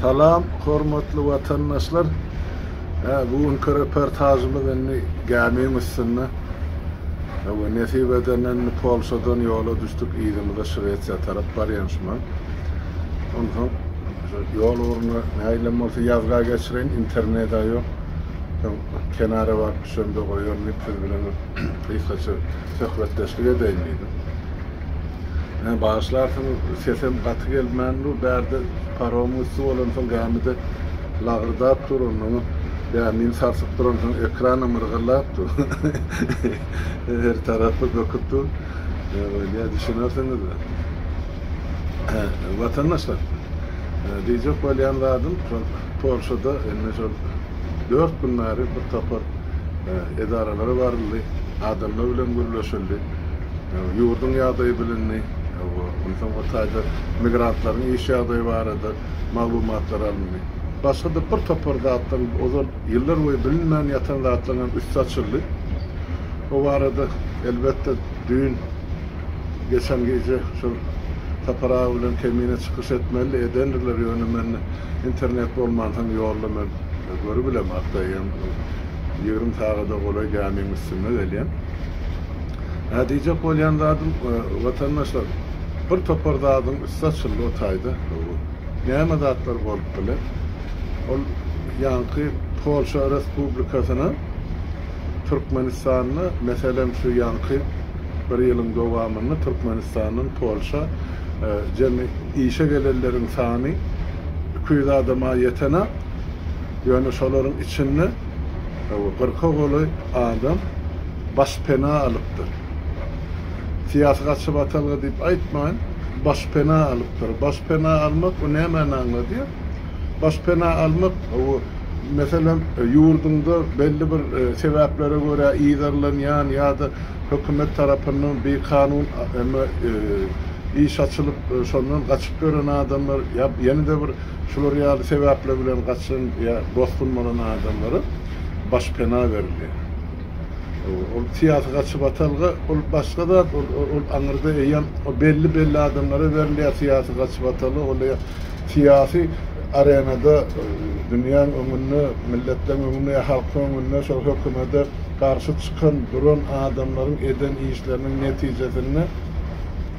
Salam hormatly watandaşlar. Hä bu günki reportajymyz indi gämiň üstünde. Hawa nesip edende indi Polşadan ýola düşdük yzymyza Şwesiýa tarap barýan şuman. Onsoň şu ýol ugruna nägilem bolsa ýazga geçireýin interneda ýok. Soň kenara baryp düşemde goýaryn diýip siz bilen gysgaça söhbetdeşlik edeýin diýdim. Ýa bagyşlarsyň sesem gaty gelmän dur bärde paromyň üsti bolansoň gämide lagyrdap dur onnoň gämini sarsyp duransoň ekranam yrgyllap dur her tarapy böküp dur bolýa düşünersiňiz watandaşlar diýjek bolýan zadym şol polşada indi şol dört gün bäri bir topar edaralary baryldy adamlar bilen gürleşildi ýurduň ýagdaýy bilindi we onsoň o taýda migrantlaryň iş ýagdaýy barada maglumatlar alyndy. Başga-da bir topar zatlaryň, ozal ýyllar boýy bilinmän ýatan zatlaryň hem üsti açyldy. O barada, elbetde, düýn, geçen gije şol Sapar aga bilen Kemine çykyş etmelidi, edendirler, ýöne mende internet bolmansoň ýolda men görübilem, aktaýýam, ýigrimi sagada golaý gämiň üstünde gelýän. Hä diýjek bolýan zadym, watandaşlar, bir topar zadyň üsti açyldy o taýda. Näme zatlar bolup biler? Ol ýaňky Polşa Respublikasyna Türkmenistanda, meselem, şu ýaňky bir ýylyň dowamynda Türkmenistandan Polşa jemi işe gelenleriň sany iki ýüz adama ýetenok. Ýöne şolaryň içinde Kyrka golaý adam başpena alypdyr. Syýasy gaçybatalga diýip aýtmaýyn, başpena alypdyr. Başpena almak, bu nämäni aňladýar? Başpena almak, bu, meselem, ýurduňda belli bir sebäplere görä yzarlanýan ýa-da hökümet tarapyndan bikanun iş açylyp, şondan gaçyp ýören adamlar ýa ýene-de bir Şular ýaly sebäpler bilen gaçan ýa bosgun bolan adamlara baş pena berilýär. Ol syýasy gaçyp atalga, ol başga zat, ol, ol aňyrda eýýäm o belli belli adamlara berilýär syýasy gaçyp ataly, ol eýýäm syýasy arenada dünýäň öňünde, milletleriň öňünde ýa halkyň öňünde şol hökümede garşy çykan, duran adamlaryň eden işleriniň netijesinde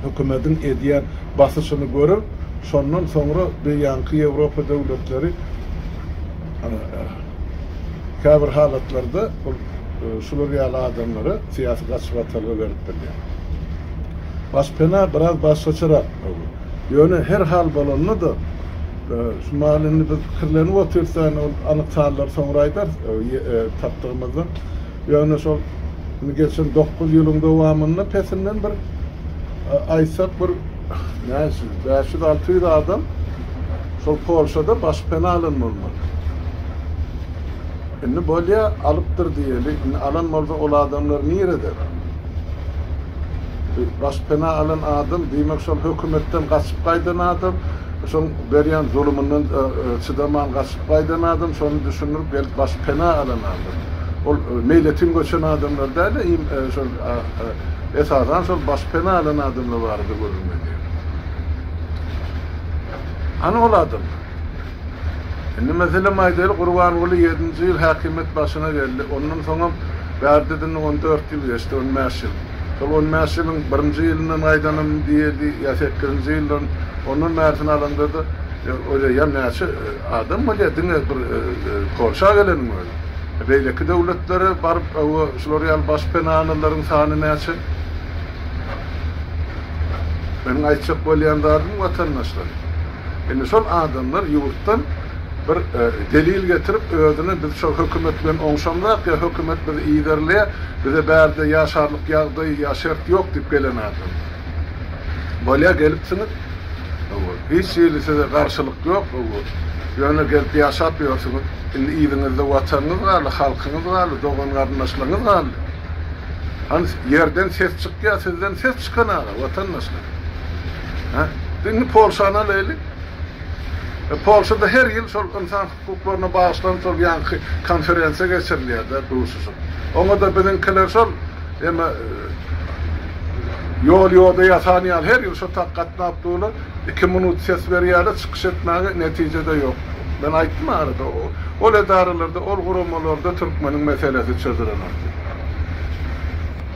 hökümediň edýän basyşyny görüp, Şondan soňra beýanky Ýewropa döwletleri käbir halatlarda bul şular ýaly adamlara syýasy gaçyp atalga berip bilýär. Baş pena biraz başgaçarak boldy. Ýöne her hal bolanda-da şu mahaly indi biz pikirlenip otyrys, ýagny ol anyk sanlary soňra aýdarys tapdygymyzdan. Ýöne şol indi geçen dokuz ýylyň dowamynda pesinden bir aýtsak bir näçe bäş ýüz, alty ýüz adam şol Polşada başpena alan bolmaly. Indi bolýa alypdyr diýeli, indi alan bolsa ol adamlar nirede? Başpena alan adam diýmek şol hökümetden gaçyp gaýdan adam, Şol berýän zulumyndan çydaman gaçyp gaýdan adam, şony düşündirip gelip baş pena alan adam. Ol meýletin göçen adamlar däl-de, iým şol esasan şol baş pena alan adamlar barada gürrüňledi. Hany ol adamlar? Indi meselem aýdaýly Gurbanguly ýedinji ýyl häkimiýet başyna geldi. Ondan soňam bärde-de indi on dört ýyl geçdi, on bäş ýyl. Şol on bäş ýylyň birinji ýylyndan gaýdanyň diýeli ýa sekkizinji ýyldan ondan bärisini alaňda-da oýlaýan näçe adam bolýar diňe bir Polşa geleniň özi. Beýleki döwletlere baryp owo şular ýaly baş penanalaryň sany näçe? Meniň aýtjak bolýan zadym watandaşlar. Indi şol adamlar ýurtdan bir delil getirip, özüni biz şol hökümet bilen oňşamzak ýa hökümet bizi yzarlaýar, bize bärde ýaşarlyk ýagdaý ýa şert ýok diýip gelen adamlar. Bolýar gelipsiňiz, hiç hili size garşylyk ýok, ýöne gelip ýaşap ýörsüňiz. Indi yzyňyzda watanyňyz galdy, halkyňyz galdy, dogan-garyndaşlaryňyz galdy. Hany ýerden ses çykýar, sizden ses çykan aga, watandaşlar. Hä? Indi Polşany alaýlyk. Polşada her ýyl şol ynsan hukuklaryna bagyşlanyp şol ýaňky konferensiýa geçirilýär-de, duşuşyk. Oňa-da biziňkiler şol eme ýol-ýoda ýasan ýaly her ýyl şo tak gatnap durlar, iki minut ses berýärler, çykyş etmäge netije-de ýok. Men aýtdym arada, ol edaralarda, ol guramalarda türkmeniň meselesi çözülenok diýip.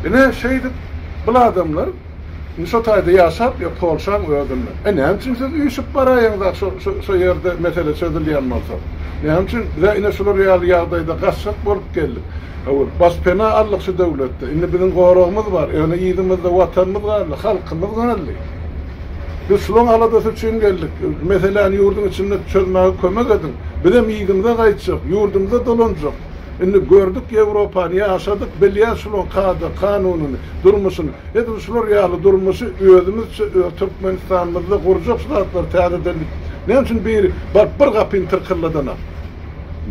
Ine, şeýdip, bul adamlar, Indi şo taýda ýaşap ýa polşaň özünde. E näme üçin siz üýşüp baraýyň zat şo şo ýerde mesele çözülýän bolsa. Näme üçin bize ine şular ýaly ýagdaýda gaçjak bolup geldik. Hawa bas pena aldyk şu döwletde. Indi biziň goragymyz bar. Ýöne yzymyzda watanymyz galdy, halkymyz galdy. Biz şulaň aladasy üçin geldik. Meseläni ýurduň içinde çözmäge kömek ediň. Bizem yzymyza gaýtjak, ýurdumyza dolanjak. Indi gördük Ýewropany, ýaşadyk, bilýäs şulaň kada, kanunyny. durmuşyny, edil şular ýaly durmuşy özümizçe öz Türkmenistanymyzda gurjak şu zatlar täzedenlik näme üçin biri baryp bir gapyny tyrkylladanak.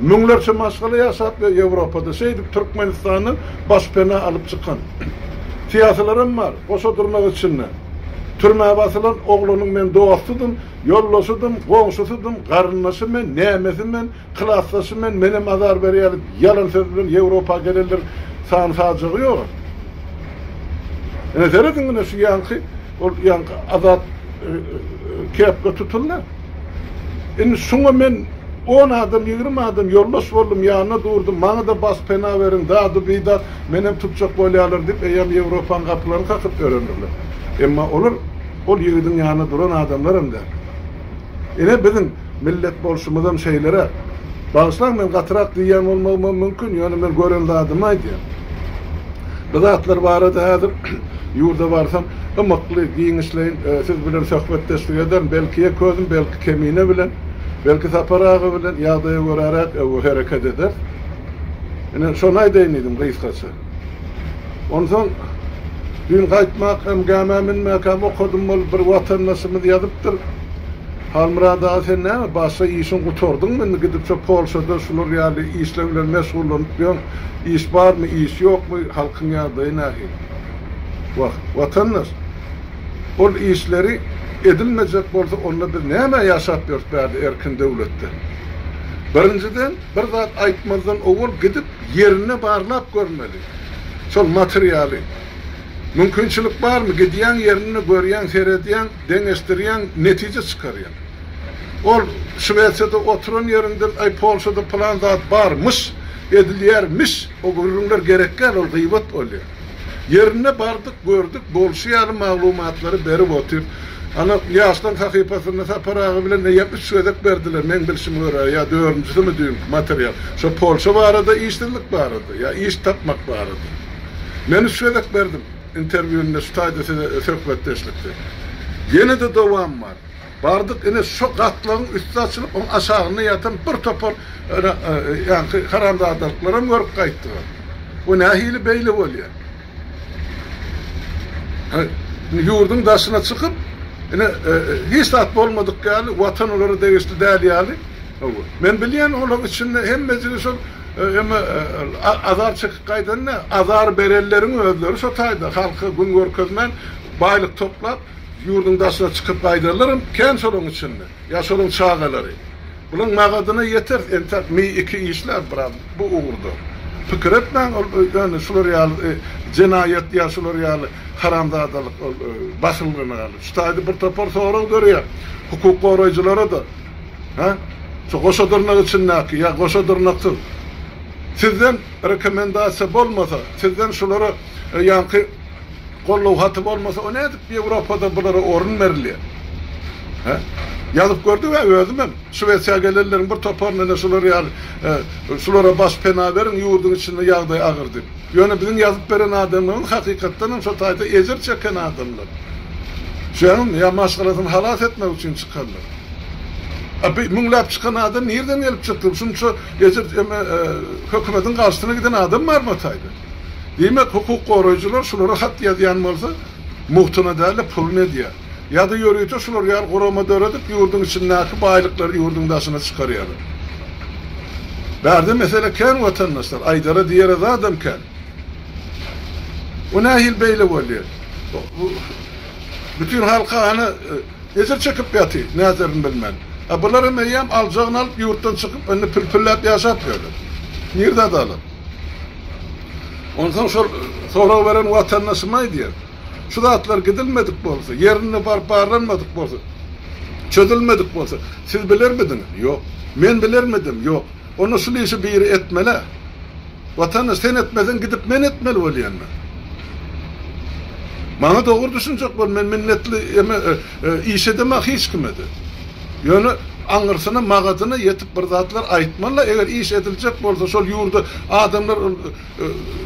Müňlerçe maşgala ýaşap ýör Ýewropada şeýdip Türkmenistandan baş pena alyp çykan syýasylaram bar goşa durnak içinde. Türmä basylan oglanyň men dostydym, ýoldaşydym, goňşusydym, garyndaşy men, nämesi men, Klasdaşym men menem azar berýädip ýalan söz bilen ýewropa gelenler sany sajagy ýoga. Ine serediň ine şu ýaňky ol ýaňky azat kepga tutuldy. Indi şuňa men on adam ýigrimi adam ýoldaş boldum ýanyna durdum maňa da bas pena beriň dady bidat menem tutjak bolýalar diýip eýýäm ýewropaň gapylaryny kakyp ýörendirler. Emma olar ol ýigidiň ýanyna duran adamlaram däl. Ine biziň Millet bolşumyzam şeýleräk. Bagyşlaň men gatyrak diýýän bolmagymam mümkin, ýöne men gören zadymy aýdýan. Bu zatlar barada häzir ýurda barsam, ymykly, giňişleýin siz bilen söhbetdeşlik ederin. Belki ýek özüm, belki Kemine bilen, belki Sapar aga bilen ýagdaýa göräräk hereket ederis. Ine, şony aýdaýyn diýdim gysgaça. Onsoň düýn gaýtmak hem, gämä münmäkäm okadym, ol bir watandaşymyz ýazypdyr. Halmyrat aga sen näme başga işiň gutardyňmy indi gidip şo polşada şular ýaly işler bilen meşgullanyp ýör iş barmy iş ýokmy halkyň ýagdaýy nähili wah watandaş ol işleri edilmejek bolsa onda biz nämä ýaşap ýörüs bärde erkin döwletde birinjiden bir zat aýtmazdan owal gidip ýerinde barlap görmeli şol materialy mümkinçilik barmy gidýäň ýerinde görýäň seredýäň Deňeşdirýäň, netije çykarýaň. Ol Şwesiýada oturan ýerinden, Aý, Polşada pylan zat bar, myş, edilýär, miş, o gürrüňler gerekgäl, ol gyýbat bolýar. Ýerine bardyk, gördük, bolşy ýaly maglumatlary berip otyr. Ana, Ýaşlaň sahypasynda Sapar aga bilen eýýäm üç gezek berdiler, meň bilşime görä, ýa dördünjisimi düýnki material. Şo Polşa barada, işsizlik barada, ýa iş tapmak barada. Men üç gezek berdim. Interwýunda şu taýda size söhbetdeşlikde. Ýene-de dowam bar. Bardyk ine şo gatlagyň üsti açylyp oň aşagynda ýatan bir topar ene ýaňky haramzadalyklaram görüp gaýtdyga. Bu nähili beýle bolýa. He indi ýurduň daşyna çykyp ine hiç zat bolmadyk ýaly watan olara degişli däl ýaly. Hawa. Men bilýän olaň içinde hemmejigi şol Emma azar çekip gaýdanda, azar berenleriň özleri şo taýda halka gün görkezmän, baýlyk toplap, ýurduň daşyna çykyp gaýdarlar hem kän şolaryň içinde. Ýa şolaryň çagalary. Bularyň magadyna ýeteris, entäk mi-iki işläris biraz bu ugurda. Pikir etmäň, ol ýöne şular ýaly jenaýat ýa şular ýaly haramzadalyk, ol bahyllygyna galyp. Şu taýda bir topar sorag döreýär hukuk goraýjylara-da. Hä? Şu goşa dyrnak içindäki ýa goşa dyrnaksyz? Sizden rekomendasiýa bolmasa, sizden şulara ýaňky goldaw haty bolmasa, o nädip Ýewropada bulara orun berilýär? Hä? Ýazyp gördüm ä özümem. Şwesiýa gelenleriň bir toparyna ine şular ýaly, şulara baş pena beriň, ýurduň içinde ýagdaý agyr diýip. Ýöne biziň ýazyp beren adamlarymyz hakykatdanam şo taýda ejir çeken adamlar. Şuňam ýa maşgalasyny halas etmek üçin çykanlar. A bi müňläp çykan adam nirden gelip çykdy? Şunça ejir eme hökümediň garşysyna giden adam barmy o taýda? Diýmek hukuk goraýjylar şulara hat ýazýan bolsa mugtyna dälde puluny edýär. Ýa-da ýörite şular ýaly gurama döredip ýurdyň içindäki baýlyklary ýurdyň daşyna çykarýarlar. Bärde mesele kän watandaşlar, aýdara diýere zadam kän. Bu nähili beýle bolýar? Bu bütin halka hany Ejir çekip ýaty, näderin bilmän. A bularam eýýäm aljagyny alyp ýurtdan çykyp indi pil-pilläp ýaşap ýörler. Nirde adalat? Onsoň şol sorag beren watandaşym aýdýar. Şu zatlar gidilmedik bolsa, ýerinde baryp barlanmadyk bolsa, çözülmedik bolsa, siz bilermidiňiz? Ýok. Men bilermidim? Ýok. Onda şul işi biri etmelä. Watandaş sen etmeseň gidip men etmeli bolýanmen. Maňa dogry düşünjek bol men minnetli eme iş edemä hiç kime de. Ýöne aňyrsyna magadyna ýetip bir zatlar aýtmaly-la eger iş ediljek bolsa şol ýurda adamlar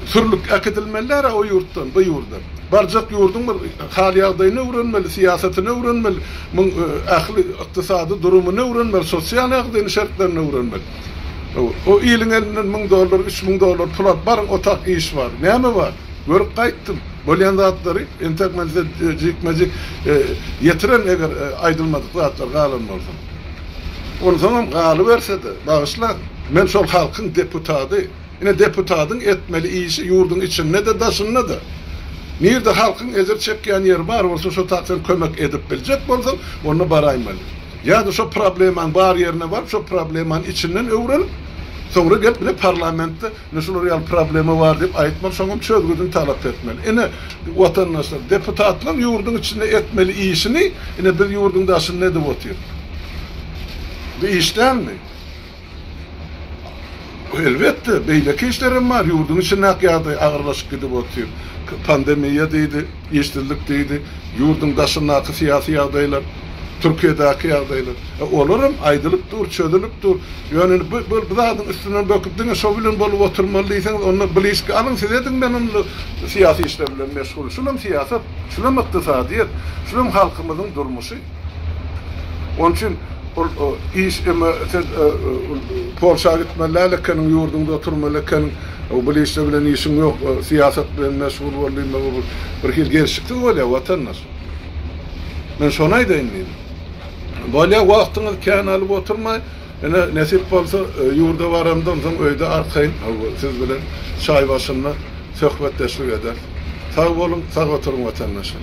sürlüp äkidilmeliler-ä o ýurtdan, bu ýurda. Barjak ýurduň bir hal-ýagdaýyny öwrenmeli, syýasatyny öwrenmeli, muň ähli ykdysady durumyny öwrenmeli, sosial ýagdaýyny, şertlerini öwrenmeli. O iliň elinden müň dollar, üç müň dollar pul alyp, baryň, otak, iş bar. Näme bar? Görüp gaýtdym. Bolýan zatlary entek men size jikme-jik ýetiren, eger aýdylmadyk zatlar galan bolsa. Onsoňam galyberse-de, bagyşlaň, men şol halkyň deputady. Ine deputadyň etmeli işi ýurduň içinde-de daşynda-da. Nirde halkyň ejir çekýän ýeri bar bolsa şo tak sen kömek edip biljek bolsaň onda baraýmaly. Ýa-da şo problemaň bar ýerine baryp şo problemany içinden öwrenip soňra gelip ine parlamentde ine şular ýaly problema bar diýip aýtmaly şoňam çözgüdini talap etmeli. Ine watandaşlar deputatlaň ýurduň içinde etmeli işini ine biz ýurduň daşynda edip otyr. Bu iş dälmi? Elbetde, beýleki işler hem bar. Ýurduň içinde ak ýagdaý agyrlaşyp gidip otyr. Pandemiýa diýdi, işsizlik diýdi, ýurduň daşyndaky syýasy ýagdaýlar, Türkiýedäki ýagdaýlar. E, olar hem aýdylyp dur, çözülip dur. Ýöne indi bu, bu zadyň üstünden böküp diňe şo bilen bolup oturmaly diýseňiz, onda blişki alyň siz ediň men onda syýasy işler bilen meşgul. Şulam syýasat, şulam ykdysadyýet, şulam halkymyzyň durmuşy. Onuň üçin ol iş emma sen Polşa gitmeli däl ekeniň, ýurduňda oturmaly ekeniň, bu işde bilen işiň ýok, syýasat bilen meşgul bol diýmek bu bir hili gelşiksiz bolýar watandaş. Men şony aýdaýyn diýdim. Bolýar, wagtyňyzy kän alyp oturmaý, ine nesip bolsa ýurda baramdan soň öýde arkaýyn siz bilen çaý başynda söhbetdeşlik ederis. Sag boluň, sag oturyň watandaşlar.